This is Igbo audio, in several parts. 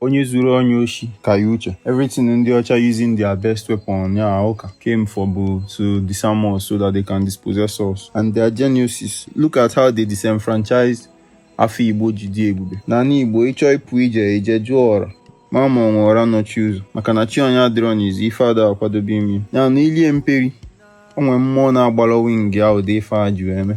Onye zuru onye oshi ka ya uche. Everything ndị ọcha using their best weapon ya ụka came for bụ to disarm us so that they can dispossess us and they're geniuses. Look at how they disenfranchised afọ Igbo ji dị ebube. N'ana Igbo ịchọ ịpụ ije eje jụọ ọra ma ma ọnwa ọra nọchi ụzọ maka na chi onye adịrọ n'izu ife ada akwadobe ime ya na ilie mperi onye mmụọ na-agbara wing ahụ ụdị ife a ji eme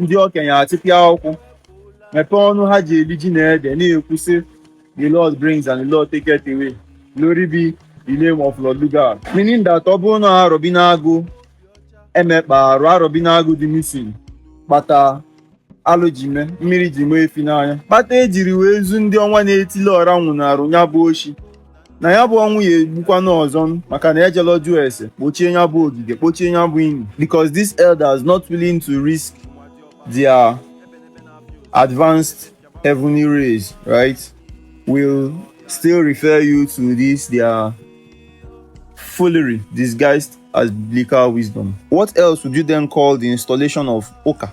ndị okenye atịpịa akwụkwọ mepee ọnụ ha ji eli ji na ede na-ekwu sị the lord brings and the lord taketh away glory be the name of Lord Lugard meaning that ọ bụrụ na Arọbinagụ emekpa arụ Arọbinagụ dị missing kpata alụ ji mee mmiri ji mee efi n'anya kpata ejiri wee zu ndị ọnwa na-etili ọra nwụnarụ ya bụ oshi na ya bụ ọnwụ ya egbukwana ọzọ maka na ejela jụọ ese kpochie ya bụ ogige kpochie ya bụ ini because these elders not willing to risk their advanced heavenly race right will still refer you to this their foolery disguised as biblical wisdom what else would you then call the installation of oka